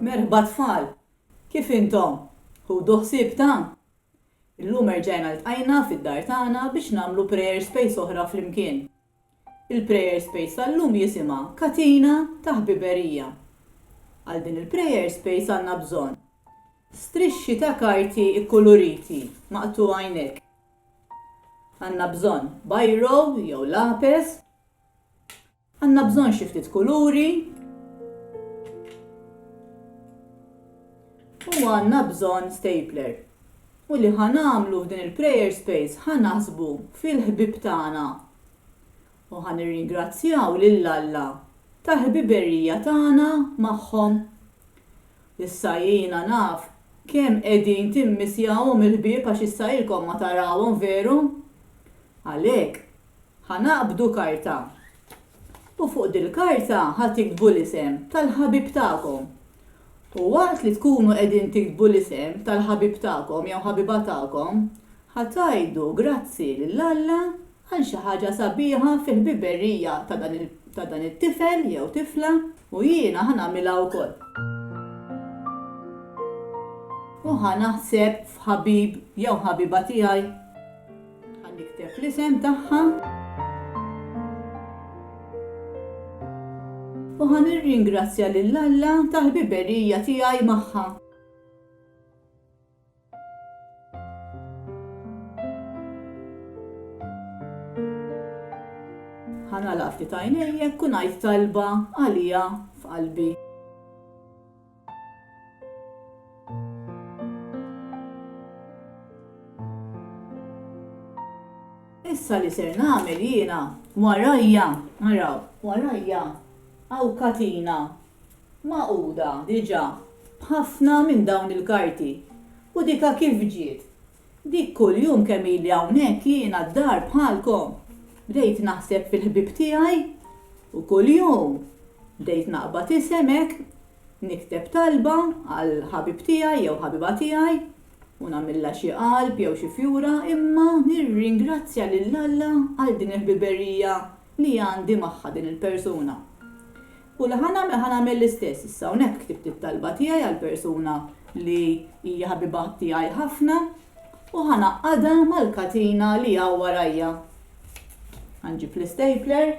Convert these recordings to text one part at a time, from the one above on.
Merħba tfal! Kif intom? Ħudu ħsieb ta'? Illum erġajna ltqajna fid-dar tagħna biex nagħmlu prayer space oħra flimkien. Il-prayer space tal-lum jisimha Katina ta' Ħbiberija. Għal din il-prayer space għandna bżonn strixxi ta' karti kkuluriti maqtugħa jnekk. Għandna bżonn biro jew lapes. Għandna bżonn xi ftit kuluri u għandna bżonn stapler. U li ħa nagħmlu f'din il-prayer space ħa naħsbu fil-ħbieb tagħna u ħa nirringrazzjaw lil Alla tal-ħbiberija tagħna magħhom. Issa jiena naf kemm qegħdin timmissjawhom il-ħbieb għax issa ilkom ma tarawhom veru? Għalhekk, Ħa naqbdu karta. U fuq dil-karta ħa tiktbu l-isem tal-ħabib tagħkom. U waqt li tkunu qegħdin tiktbu l-isem tal-ħabib tagħkom jew ħabiba tagħkom, ħa tgħidu grazzi lil Alla għal xi ħaġa sabiħa fil-ħbiberija ta' dan it-tifel jew tifla u jiena ħa nagħmilha wkoll. U ħa naħseb f'ħabib jew ħabiba tiegħi. Ħa nikteb l-isem tagħha. U ħa nirringrazzja lil Alla tal-ħbiberija tiegħi magħha. ħanala ftit għajnejjek u ngħid talba għalija f'qalbi. Issa li ser nagħmel jiena, warajja, araw, warajja hawn katina magħquda diġà b'ħafna minn dawn il-karti u dika kif ġiet Dik kuljum kemm ili hawnhekk jiena d-dar bħalkom, bdejt naħseb fil-ħbieb tiegħi u kuljum bdejt naqbad isem hekk, nikteb talba għal ħabib tiegħi jew ħabiba tiegħi u nagħmilha xi qalb jew xi fjura imma nirringrazzja lil Alla għal din il-ħbiberija li għandi magħha din il-persuna. U li ħa nagħmel, ħa nagħmel l-istess. Issa hawnhekk ktibt it-talba tiegħi għal persuna li hija ħabiba tiegħi ħafna u ħa ngħaqqadha mal-katina li hawn warajja. Ħa nġib l-istapler.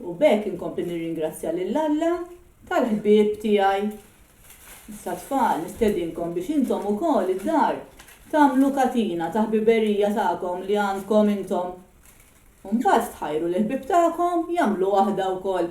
U b'hekk inkompli nirringrazzja lil Alla tal-ħbieb tiegħi. Issa tfal, nistedinkom biex intom ukoll id-dar tagħmlu katina ta' ħbiberija tagħkom li għandkom intom. U mbagħad tħajru lill-ħbieb tagħkom jagħmlu waħda wkoll.